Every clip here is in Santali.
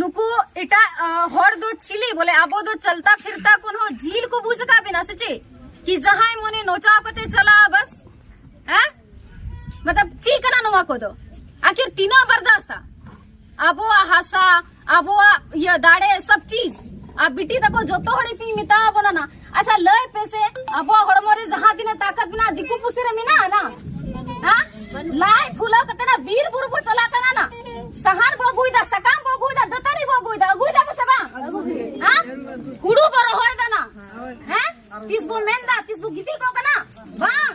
ᱱᱩᱠᱩ ᱮᱴᱟᱜ ᱦᱚᱲ ᱫᱚ ᱪᱤᱞᱤ ᱵᱚᱞᱮ ᱟᱵᱚ ᱫᱚ ᱪᱟᱞᱛᱟ ᱯᱷᱤᱨᱛᱟ ᱠᱚᱱ ᱦᱚᱸ ᱡᱤᱞ ᱠᱚ ᱵᱩᱡ ᱟᱠᱟᱫ ᱵᱮᱱᱟ ᱥᱮ ᱪᱮᱫ ᱠᱤ ᱡᱟᱦᱟᱸᱭ ᱢᱚᱱᱮ ᱱᱚᱪᱟᱣ ᱠᱟᱛᱮ ᱪᱟᱞᱟᱜᱼᱟ ᱵᱟᱥ ᱦᱮᱸ ᱢᱚᱛᱞᱚᱵ ᱪᱮᱫ ᱠᱟᱱᱟ ᱱᱚᱣᱟ ᱠᱚᱫᱚ ᱟᱠᱷᱤᱨ ᱛᱤᱱᱟᱹᱜ ᱵᱟᱨᱫᱟᱥᱛᱟ ᱟᱵᱚᱣᱟᱜ ᱦᱟᱥᱟ ᱟᱵᱚᱣᱟᱜ ᱤᱭᱟᱹ ᱫᱟᱲᱮ ᱥᱚᱵ ᱪᱤᱡ ᱟᱨ ᱵᱤᱴᱤ ᱛᱟᱠᱚ ᱡᱚᱛᱚ ᱦᱚᱲ ᱤᱯᱤᱧ ᱢᱮᱛᱟᱣ ᱵᱚᱱᱟ ᱱᱟ ᱟᱪᱪᱷᱟ ᱞᱟᱹᱭ ᱯᱮ ᱥᱮ ᱟᱵᱚᱣᱟᱜ ᱦᱚᱲᱢᱚ ᱨᱮ ᱡᱟᱦᱟᱸ ᱛᱤᱱᱟᱹᱜ ᱛᱟᱠᱟᱛ ᱢᱮᱱᱟᱜᱼᱟ ᱫᱤᱠᱩ ᱯᱩᱥᱤ ᱨᱮ ᱢᱮᱱᱟᱜᱼᱟ ᱱᱟ ᱦᱟ ᱞᱟᱭ ᱯᱷᱩᱞᱟᱣ ᱠᱟᱛᱮ ᱱᱟ ᱵᱤᱨ ᱵᱩᱨᱩ ᱵᱚ ᱪᱟᱞᱟᱜ ᱠᱟᱱᱟ ᱱᱟ ᱥᱟᱦᱟᱨ ᱵᱚ ᱟᱹᱜᱩᱭᱫᱟ ᱥᱟᱠᱟᱢ ᱵᱚ ᱟᱹᱜᱩᱭᱫᱟ ᱫᱟᱹᱛᱟᱹᱱᱤ ᱵᱚ ᱟᱹᱜᱩᱭᱫᱟ ᱟᱹᱜᱩᱭᱫᱟ ᱵᱚ ᱥᱮ ᱵᱟᱝ ᱦᱟ ᱦᱩᱲᱩ ᱵᱚ ᱨᱚᱦᱚᱭ ᱫᱟ ᱱᱟ ᱦᱮᱸ ᱛᱤᱥ ᱵᱚ ᱢᱮᱱᱫᱟ ᱛᱤᱥ ᱵᱚ ᱜᱤᱛᱤᱡ ᱠᱚᱜ ᱠᱟᱱᱟ ᱵᱟᱝ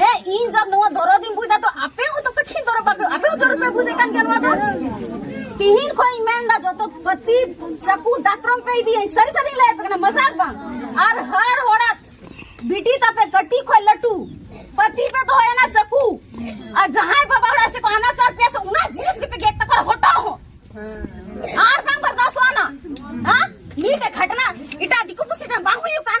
ᱦᱮᱸ ᱤᱧ ᱡᱟᱵ ᱱᱚᱣᱟ ᱫᱚᱨᱚᱫ ᱤᱧ ᱵᱩᱡᱟ ᱛᱚ ᱟᱯᱮ ᱦᱚᱸ ᱛᱚ ᱠᱟᱹᱴᱤᱡ ᱫᱚᱨᱚᱫ ᱟᱯᱮ ᱟᱯᱮ ᱦᱚᱸ ᱫᱚᱨᱚᱫ ᱯᱮ ᱵᱩᱡ ᱠᱟᱱ ᱜᱮᱭᱟ ᱱᱚᱣᱟ ᱫᱚ ᱛᱤᱦᱤᱧ ᱠᱷᱚᱱ ᱤᱧ ᱢᱮᱱ ᱫᱟ ᱡᱚᱛᱚ ᱯᱟᱹᱛᱤ ᱪᱟᱠᱩ ᱫᱟᱛᱨᱚᱢ ᱯᱮ ᱤᱫᱤᱭᱟᱹᱧ ᱥᱟᱹᱨᱤ ᱥᱟᱹᱨᱤ ᱞᱟᱹᱭ ᱯᱮ ᱠᱟᱱᱟ ᱢᱟᱡᱟᱠ ᱵᱟᱝ ᱟᱨ ᱦᱟᱨ ᱦᱚᱲᱟᱜ ᱵᱤᱴᱤ ᱛᱟᱯᱮ ᱠᱟᱹᱴᱤᱡ ᱠᱷᱚᱱ ᱞᱟᱹᱴᱩ ᱯᱟᱹᱛᱤ ᱯᱮ ᱫᱚᱦᱚᱭᱟ ᱱᱟ ᱪᱟᱠᱩ ᱟᱨ ᱡᱟᱦᱟᱸᱭ ᱵᱟᱵᱟ ᱦᱚᱲᱟᱜ ᱥᱮ ᱠᱚ ᱟᱱᱟ ᱪᱟᱥ ᱯᱮ ᱥᱮ ᱚᱱᱟ ᱡᱤᱱᱤᱥ ᱜᱮᱯᱮ ᱜᱮᱫ ᱛᱟᱠᱚ ᱦᱚᱴᱟᱣ ᱦᱚᱸ ᱟᱨ ᱵᱟᱝ ᱵᱟᱨᱫᱟᱥᱚᱜᱼᱟ ᱱᱟ ᱦᱮᱸ ᱢᱤᱫᱴᱮᱡ ᱜᱷᱟᱴᱱᱟ ᱮᱴᱟᱜ ᱫᱤᱠᱩ ᱯᱩᱥᱤ ᱴᱷᱮᱱ ᱵᱟᱝ ᱦᱩᱭᱩᱜ ᱠᱟᱱ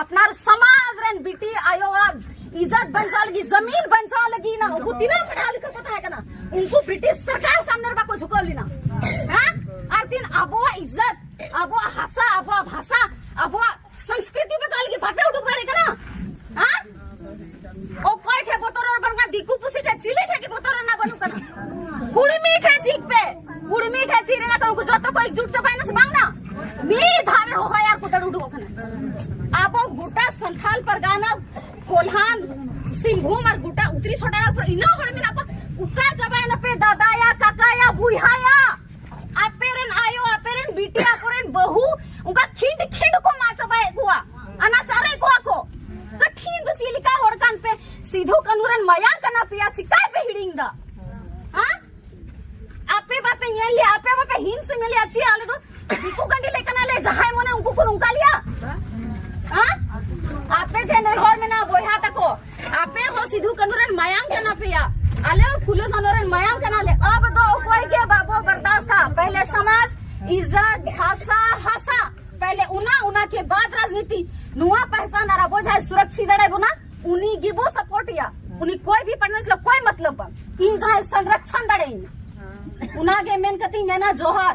ᱟᱯᱱᱟᱨ ᱥᱚᱢᱟᱡᱽ ᱨᱮᱱ ᱵᱤᱴᱤ ᱟᱭᱳᱣᱟᱜ ᱤᱡᱽᱡᱚᱛ ᱵᱟᱧᱪᱟᱣ ᱞᱟᱹᱜᱤᱫ ᱡᱟᱢᱤᱱ ᱵᱟᱧᱪᱟᱣ ᱞᱟᱹᱜᱤᱫ ᱱᱟ ᱩᱱᱠᱩ ᱛᱤᱱᱟᱹᱜ ᱯᱟᱲᱦᱟᱣ ᱞᱮᱠᱷᱟ ᱠᱚ ᱛᱟᱦᱮᱸ ᱠᱟᱱᱟ ᱩᱱᱠᱩ ᱵᱨᱤᱴᱤᱥ ᱥᱚᱨᱠᱟᱨ ᱥᱟᱢᱱᱮ ᱨᱮ ᱵᱟᱠᱚ ᱡᱷᱩᱠᱟᱹᱣ ᱞᱮᱱᱟ ᱦᱮᱸ ᱟᱨ ᱛᱤᱱ ᱟᱵᱚᱣᱟᱜ ᱤᱡᱽᱡᱚᱛ ᱟᱵᱚᱣᱟᱜ ᱦᱟᱥᱟ ᱟᱵᱚᱣᱟᱜ ᱵᱷᱟᱥᱟ ᱟᱵᱚᱣᱟᱜ ᱥᱚᱝᱥᱠᱨᱤᱛᱤ ᱵᱟᱧᱪᱟᱣ ᱞᱟᱹᱜᱤᱫ ᱵᱟᱯᱮ ᱩᱰᱩᱠ ᱫᱟᱲᱮ ᱠᱟᱱᱟ ᱦᱮᱸ ᱚᱠᱚᱭ ᱴᱷᱮ ᱵᱚᱛᱚᱨ ᱨᱚᱲ ᱵᱟᱝᱟ ᱫᱤᱠᱩ ᱯᱩᱥᱤ ᱴᱷᱮ ᱪᱤᱞᱤ ᱴᱷᱮ ᱜᱮ ᱵᱚᱛᱚᱨ ᱨᱮᱱᱟᱜ ᱵᱟᱹᱱᱩᱜ ᱠᱟᱱᱟ ᱠᱩᱲᱢᱤ ᱴᱷᱮ ᱪᱤᱠ ᱯᱮ ᱠᱩᱲᱢᱤ ᱴᱷᱮ ᱪᱤᱠ ᱨᱮᱱᱟᱜ ᱠᱟᱱᱟ ᱩᱱᱠᱩ ᱡᱚᱛᱚ ᱠᱚ ᱮᱠᱡᱩᱴ ᱪᱟᱵᱟᱭᱱᱟ ᱥᱮ ᱵᱟᱝ ᱱᱟ ᱢᱤ ᱫᱷᱟᱣᱮ ᱦᱚᱦᱚᱭ ᱟᱨ ᱠᱚ ᱫᱟᱹᱲ ᱩᱰᱩᱠᱚᱜ ᱠᱟᱱᱟ ᱟᱵᱚ ᱜᱚᱴᱟ ᱥᱟᱱᱛᱷᱟᱞ ᱯᱟᱨᱜᱟᱱᱟ ᱠᱚᱞᱦᱟᱱ ᱥᱤᱝᱵᱷᱩᱢ ᱟᱨ ᱜᱚᱴᱟ ᱩᱛᱨᱤ ᱥᱚᱴᱟᱨᱟ ᱯᱩᱨᱟᱹ ᱤᱱᱟᱹ ᱦᱚᱲ ᱢᱮᱱᱟᱜ ᱠᱚ ᱩᱠᱟ ᱪᱟᱵᱟᱭᱱᱟ ᱯᱮ ᱫᱟᱫᱟᱭᱟ ᱠᱟᱠᱟᱭᱟ ᱵᱩᱭᱦᱟᱭᱟ ᱟᱯᱮ ᱨᱮᱱ ᱟᱭᱳ ᱟᱯᱮ ᱨᱮᱱ ᱵᱤᱴᱤ ᱟᱠᱚ ᱨᱮᱱ ᱵᱟᱹᱦᱩ ᱚᱱᱠᱟ ᱠᱷᱤᱸᱰ ᱠᱷᱤᱸᱰ ᱠᱚ ᱢᱟ ᱪᱟᱵᱟᱭᱮᱫ ᱠᱚᱣᱟ ᱟᱱᱟᱪᱟᱨᱮᱫ ᱠᱚᱣᱟ ᱠᱚ ᱠᱟᱴᱷᱤᱱ ᱫᱚ ᱪᱮᱫ ᱞᱮᱠᱟ ᱦᱚᱲ ᱠᱟᱱ ᱯᱮ ᱥᱤᱫᱷᱩ ᱠᱟᱹᱱᱩ ᱨᱮᱱ ᱢᱟᱭᱟᱝ ᱠᱟᱱᱟ ᱯᱮᱭᱟ ᱪᱤᱠᱟᱭ ᱯᱮ ᱦᱤᱲᱤᱧ ᱫᱟ ᱦᱟ ᱟᱯᱮ ᱵᱟᱯᱮ ᱧᱮᱞ ᱞᱮᱭᱟ ᱟᱯᱮ ᱵᱟᱯᱮ ᱦᱤᱢᱥ ᱧᱮᱞ ᱞᱮᱭᱟ ᱪᱮᱫ ᱟᱞᱮ ᱫᱚ ᱫᱤᱠᱩ ᱜᱟᱹᱰᱤ ᱞᱮ ᱠᱟᱱᱟ ᱞᱮ ᱡᱟᱦᱟᱸᱭ ᱢᱚᱱᱮ ᱩᱱᱠᱩ ᱠᱚ ᱱᱚᱝᱠᱟ ᱞᱮᱭᱟ ᱦᱟ ᱟᱯᱮ ᱴᱷᱮᱱ ᱱᱮᱦᱚᱨ ᱢᱮᱱᱟᱜᱼᱟ ᱵᱚᱭᱦᱟ ᱛᱟᱠᱚ ᱟᱯᱮ ᱦᱚᱸ ᱥᱤᱫᱷᱩ ᱠᱟᱹᱱᱩ ᱨᱮᱱ ᱢᱟᱭᱟᱝ ᱠᱟᱱᱟ ᱯᱮᱭᱟ ᱟᱞᱮ ᱦᱚᱸ ᱯᱷᱩᱞᱳ ᱥᱟᱱᱚ ᱨᱮᱱ ᱢᱟᱭᱟᱝ ᱠᱟᱱᱟ ᱞᱮ ᱟᱵ ᱫᱚ ᱚᱠᱚᱭ ᱜᱮ ᱵᱟᱵᱚ ᱵᱟᱨᱫᱟᱥᱛᱟ ᱯᱟᱦᱞᱮ ᱥᱚᱢᱟᱡᱽ ᱤᱡᱡᱚᱛ ᱵᱷᱟᱥᱟ ᱦᱟᱥᱟ ᱯᱟᱦᱞᱮ ᱩᱱᱟ ᱩᱱᱟ ᱠᱮ ᱵᱟᱫ ᱨᱟᱡᱽᱱᱤᱛᱤ ᱱᱚᱣᱟ ᱯᱟᱦᱪᱟᱱ ᱟᱨ ᱟᱵᱚ ᱡᱟᱦᱟᱸᱭ ᱥᱩᱨᱚᱠᱥᱤ ᱫᱟᱲᱮ ᱵᱚᱱᱟ ᱩᱱᱤ ᱜᱮ ᱵᱚ ᱥᱟᱯᱳᱨᱴ ᱮᱭᱟ ᱩᱱᱤ ᱠᱚᱭ ᱵᱷᱤ ᱯᱟᱨᱴᱱᱟᱨ ᱥᱟᱞᱟᱜ ᱠᱚᱭ ᱢᱚᱛᱞᱚᱵ ᱵᱟᱝ ᱤᱧ ᱡᱟᱦᱟᱸᱭ ᱥᱚᱝᱨᱚᱠᱷᱚᱱ ᱫᱟᱲᱮᱭᱟᱹᱧ ᱚᱱᱟ ᱜᱮ ᱢᱮᱱ ᱠᱟᱛᱮᱧ ᱢᱮᱱᱟ ᱡᱚᱦᱟᱨ